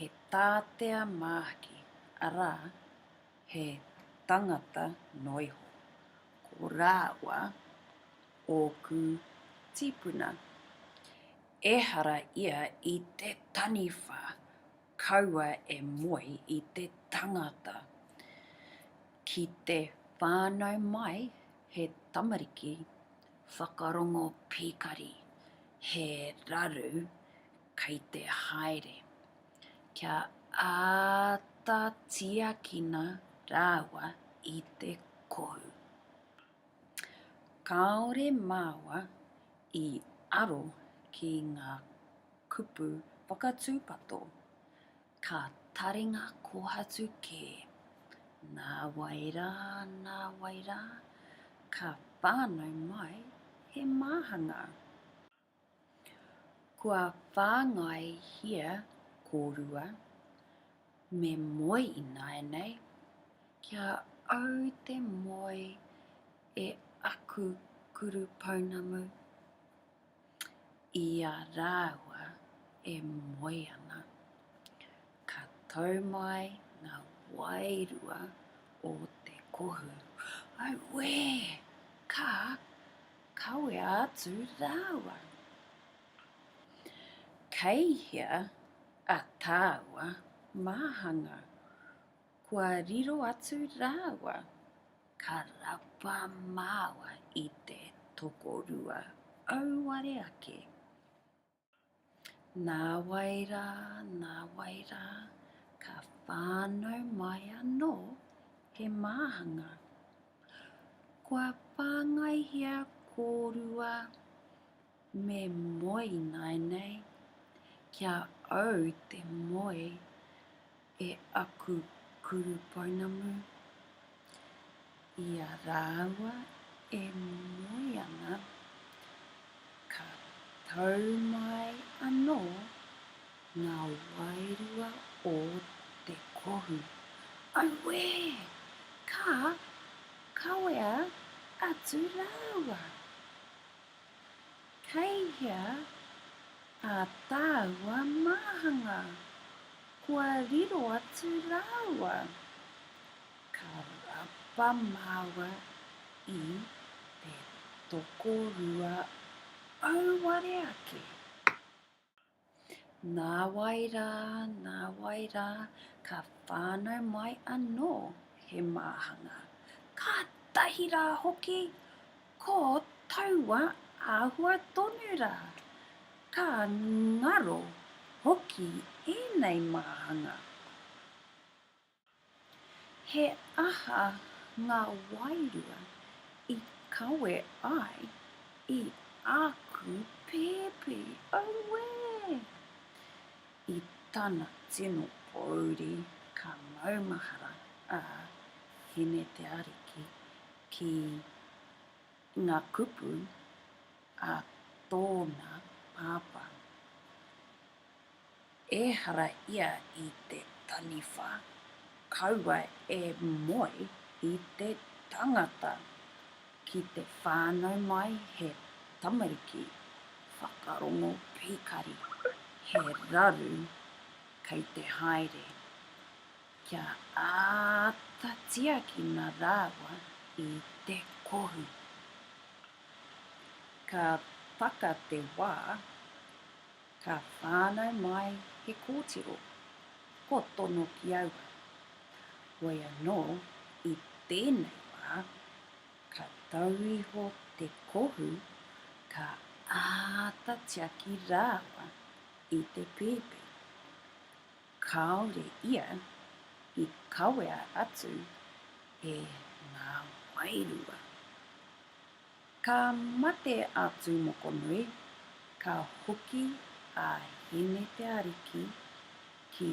he tātea māhaki, arā, he tangata noa iho. Ko rāua ōku tīpuna. Ehara ia i te taniwha kaua e moe i te tangata. Ki te whānau mai he tamariki whakarongo pīkari, he raru Kei te haere kia āta tiakina rāua i te kohu. Kāore māua i aro ki ngā kupu whakatūpato, ka taringa kōhatu kē. Nāwai rā, nāwai rā, ka whānau mai he māhanga. Kua whāngaihia kōrua me moe ināianei, kia au te moe e aku kuru pounamu, i a rāua e moe ana. Ka tau mai ngā wairua o te kohu. Auē! Ka kawea atu rāua. Kei hea a tāua māhanga? Kua riro atu rāua. Ka rapa māua i te tokorua auare ake. Nāwai rā, nāwai rā, ka whānau mai anō he māhanga. Kua whāngaihia kōrua me moe ināianei, kia au te moe. e aku kuru pounamu, i a rāua e moe ana, ka tau mai anō ngā wairua o te kohu. Auē! Ka kawea atu rāua. Kei hea ā tāua māhanga? Kua riro atu rāua? Ka rapa māua i te tokorua auare ake. Nāwai rā, nāwai rā, ka whānau mai anō he māhanga. Kātahi rā hoki, ko taua āhua tonu rā. Ka ngaro hoki ēnei māhanga. He aha ngā wairua i kawe ai i āku pēpi? Auē! I tana tino pōuri ka maumahara a Hine Te Ariki ki ngā kupu a tōna pāpā. ehara ia i te taniwha, kaua e moe i te tangata ki te whānau mai he tamariki whakarongo pīkari, he raru kei te haere, kia āta tiakina rāua i te kohu. Ka taka te wā. Ka whānau mai he kōtiro, kua tono ki aua. Hoi anō, i tēnei wā, ka tau iho te kohu, ka āta tiaki rāua i te pēpi. Kāore ia i kawea atu e ngā wairua. Ka mate a Tūmokonui, ka hoki a Hine Te Ariki ki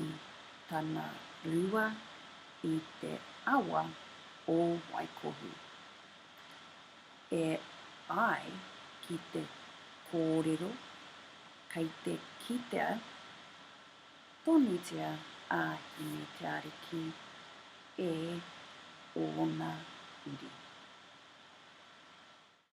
tana rua i te awa o Waikohu. E ai ki te kōrero kei te kitea, Tonutia a Hine te Ariki e ōna uri.